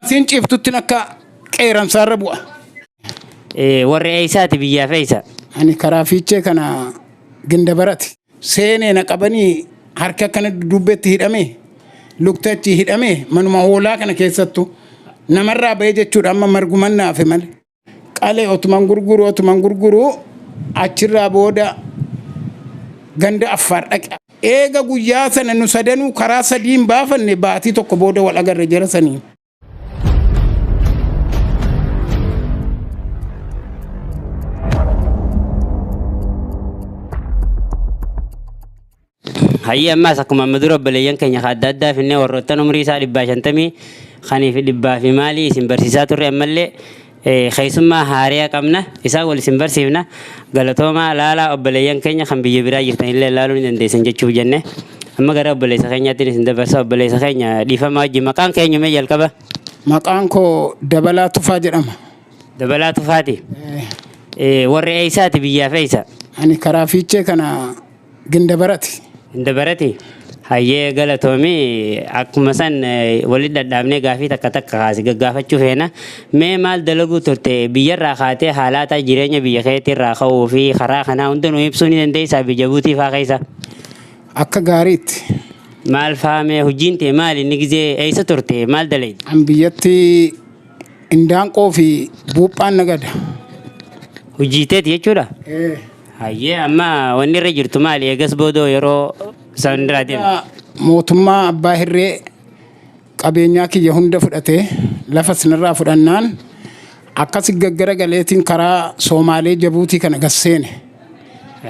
Siin ciiftuttiin akka qeeransaarra bu'a. Warri eessaati biyyaaf eessa? Ani karaa fiichee kana ginda barati. Seenee na qabanii harki akkana dudduubbeetti hidhamee lukti achii hidhamee manuma hoolaa kana keessattu namarraa ba'ee jechuudha amma marguman naafe malee. Qalee otuman gurguru otuman gurguru achirraa booda ganda affaar dhaqe. Eega guyyaa sana nu sadanuu karaa sadiin baafanne baatii tokko booda wal agarre jara saniin. Hayyee ammaas akkuma amma dura obboleeyyan keenya kan adda addaa finnee warroottan umrii isaa dhibbaa shantamii kanii fi dhibbaa fi maalii isin barsiisaa turre ammallee Keessummaa haaraya qabna. Isaan wal isin barsiifna. Galatoomaa laalaa obboleeyyan keenya kan biyya biraa jirtan illee laaluu ni dandeessan jechuuf jenne. Amma gara obboleessa keenyaatti isin dabarsa. Obboleessa keenya dhiifama wajjin maqaan keenyu mee jalqaba? Maqaan koo Dabalaa Tufaa jedhama. Dabalaa Tufaati. Warri eessaati biyyaaf eessa? Ani karaa fiichee kana Gindabarati. Gindabarati. Hayyee galatoomi akkuma san walitti dhadhaabnee gaafii takka takka kaasi gaggaafachuu feena. Mee maal dalaguu turte biyyarraa kaatee haalaataa jireenya biyya keetirraa ka'uu fi karaa kanaa hunda nu ibsuu ni dandeessaa biyya buutii faa keessa? Akka gaariitti. Maal faa mee hojiin tee maali inni gizee eessa turte maal dalayde? An biyyatti Indaanqoo fi buuphaan nagada. Hojii teeti jechuudha? Ee. Hayyee amma wanni irra jirtu maali? Eegas boodoo yeroo isaan irraa deemu. Yaa Mootummaa abbaa hirree qabeenyaa kiyya hunda fudhate lafa sinirraa fudhannaan akkasi gaggara galeetiin karaa Soomaalee Jabuutii kana gasseene.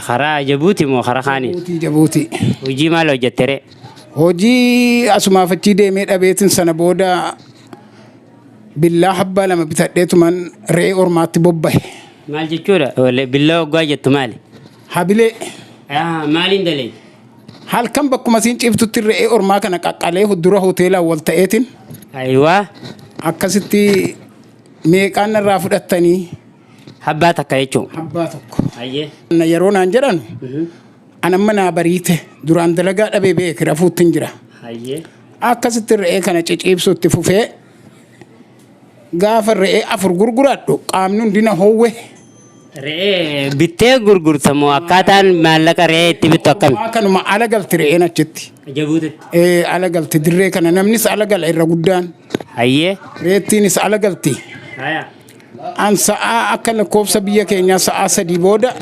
Karaa Jabuuti moo karaa kaaniin? Jabuutii Jabuutii. Hojii maal hojjettere? Hojii asumaaf achii deemee dhabeetiin sana booda Billaa habbaa lama bitadheetuman re'ee ormaatti bobbahe. Maal jechuudha? Wal- Billaa oggaa jettu maali? Habilee Ah, Maaliin dalee? halkan bakkuma siin ciiftutti re'ee ormaa kana qaqqalee dura hoteelaan wal ta'eetiin Ayiwaa akkasitti meeqaan narraa fudhattanii habbaa takka jechuun. habbaa tokko. Ayyee. Na yeroo naan jedhan an amma naa bariite duraan dalagaa dhabee beeki rafuuttiin jira. Ayyee. Akkasitti re'ee kana ciciibsuu itti fufee gaafa re'ee afur gurguradhu qaamni hundi na hoowwe. Re'ee bittee gurgurta moo akkaataan maallaqa re'ee itti bittu akkami? Waa kanuma ala galti re'een achitti. Jabuutitti. Ee, ala galti dirree kana namnis ala gala irra guddaan. Hayyee. Reettiinis ala galti. Haya. An sa'aa akka lakkoofsa biyya keenyaa sa'aa sadii booda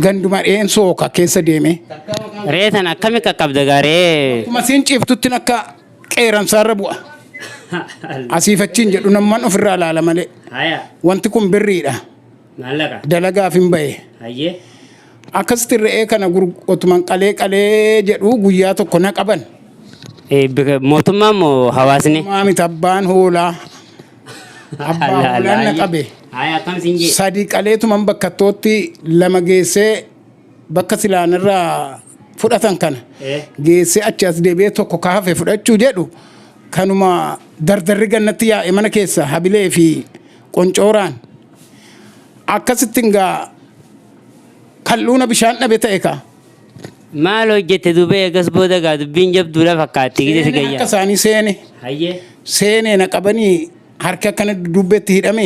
ganduma dheen sooka keessa deeme. Re'ee tana akkami qaqqabda gaa re'ee? Akkuma siin ciiftuttin akka qeeransaarra bu'a. Asiif achiin jedhu namman ofirraa ilaala malee. Haya. Wanti kun birriidha. Maallaqa. Dalagaaf hin bahe. Hayyee. Akkasitti re'ee kana gur- otuman qalee qalee jedhu guyyaa tokko na qaban. Eh, bika- Mootummaan moo hawaasni? Maamit abbaan hoolaa Abbaa hoolaan na qabe. Haaya akkam siin jee. Sadii qaleetuman bakkattootti lama geessee bakka silaan irraa fudhatan kana Eh. geessee achi as deebi'ee tokko ka hafe fudhachuu jedhu kanuma dardarri gannatti yaa'e mana keessa habilee fi qoncooraan akkasittiin gaa kal'uuna bishaan dhabe ta'e kaa. Maal hojjette dubee eegas booda gaa dubbiin jabduudha fakkaatti gidee si Seenee gayyaa. harka isaanii seene Hayyee. seenee na qabanii harka akkana dudduubbeetti hidhame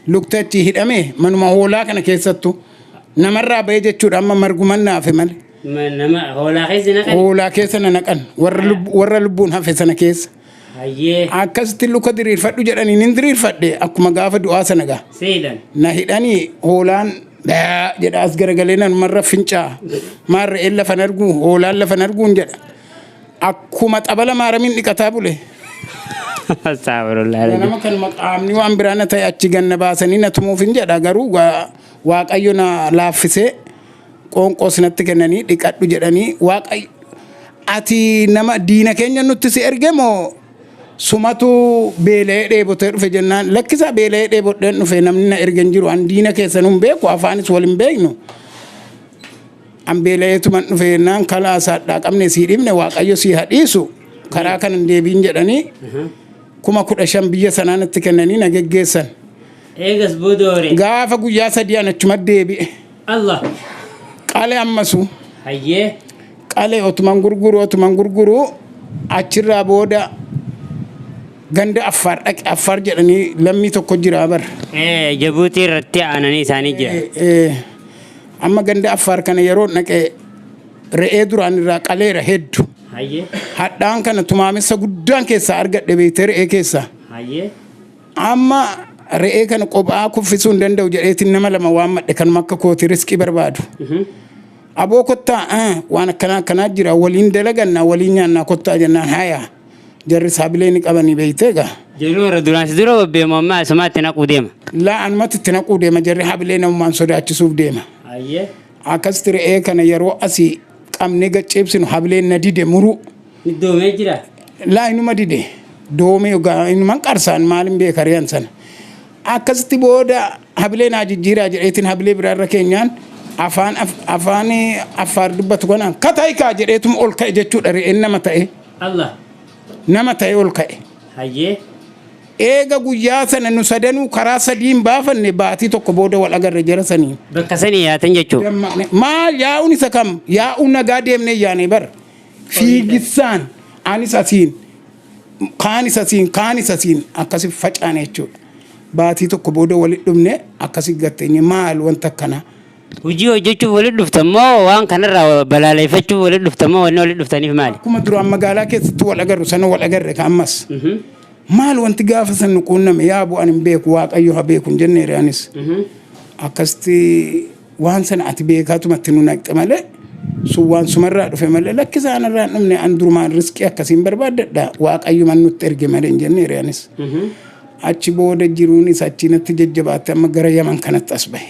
lukta achi hidhame manuma hoolaa kana keessattu namarraa ba'ee jechuudha amma marguman naafe malee Ma- Nama hoolaa keessa naqan. hoolaa keessa na naqan warra lub- warra lubbuun hafe sana keessa Hayyee. Akkasitti luka diriirfadhu jedhaniin hin diriirfadhe akkuma gaafa du'aa sana gaa. Seelan. Na hidhanii hoolaan dhaa jedha as garagalee nanumarra fincaa maarra een lafan arguu hoolaan lafan arguun jedha. Akkuma xabala maaramiin dhiqataa bule. Astaafirullaah. Ganama kanuma qaamni waan biraa na ta'e achi ganna baasanii na tumuuf hin jedha garuu gaa waaqayyo na laaffisee qoonqoo sinatti kennanii dhiqadhu jedhanii waaqayyo ati nama diina keenya nutti si erge moo sumatu beela'ee dheebotee dhufe jennaan lakkisaa beela'ee dheebodheen dhufe namni na erge hin jiru an diina keessan hin beeku afaanis wal hin beeknu an beela'eetuman dhufe jennaan kalaa isaadhaa qabne sii dhibne waaqayyo sii hadhiisu karaa kan hin deebiin jedhanii kuma kudha shan biyya sanaan itti kennanii na geggeessan Eegas booda hore. gaafa guyyaa sadii an achuma deebi'e. Allah. Qale ammasu. Hayyee. Qale otuman gurguru otuman gurguru achirraa booda ganda affaar dhaqe affaar jedhanii lammii tokko jira bar. Jabuutii irratti aananii isaanii jira. Amma ganda affaar kana yeroo dhaqe re'ee duraan irraa qaleera heddu. Hadhaan kana tumaamessa guddaan keessaa argadhe beekte re'ee keessaa. Amma re'ee kana qophaa kuffisuu hin danda'u jedheetiin nama lama waan madhe kanuma akka kooti riskii barbaadu. Aboo kottaa ah, waan akkanaa akkanaa jira waliin dalagannaa waliin nyaannaa kottaa jennaan haya jarri isaa bilee ni qabanii beeytee egaa. Jiruu irra duraan si dura bobbeemu amma asumaatti naquu deema. Laa anumatti itti naquu deema jarri habilee namummaan sodaachisuuf deema. Ayyee. Akkasitti re'ee kana yeroo asii qabnee gad ciibsinu habileen na dide muruu. Doomee jira. Laa inuma dide doomee ogaa inuman qarsaan maalin beeka riyan sana. Akkasitti booda habilee naa jijjiiraa jedheetiin habilee biraa irra keenyaan afaan afaan affaar dubbatu kanaan kataayikaa jedheetum ol ka'e jechuudha re'een nama ta'e. Allah. Nama ta'e ol ka'e. Hayyee. Eega guyyaa sana nu sadanuu karaa sadiin baafanne baatii tokko booda wal agarre jara sanii. Bakka sanii yaatan jechuudha. Maal yaa'uun isa kam yaa'uun nagaa deemnee yaanee bara. Fiigissaan anis asiin kaanis asiin kaanis asiin akkasi facaane jechuudha. Baatii tokko booda walitti dhufne akkasi gatteenye maal wanta akkanaa. Hojii hojjechuuf walitti dhuftan moo waan kanarraa balaaleeffachuuf walitti dhuftan moo wanni walitti dhuftaniif maali? Akkuma duraan magaalaa keessatti wal agarru sana wal agarre ka ammas. Maal wanti gaafa san nu quunname yaa bu'an hin beeku waaqayyo ha beeku hin jenneere anis. Akkasitti Waan sana ati beekaatuma itti nu naqxe malee sun waan sumarraa dhufe malee lakki isaan irraa hin dhumne an durumaan riskii akkasiin barbaaddadha waaqayyuman nutti erge malee hin jenne hiriyaanis. Achi booda jiruunis achi natti jajjabaatte amma gara yaman kanatti as bahe.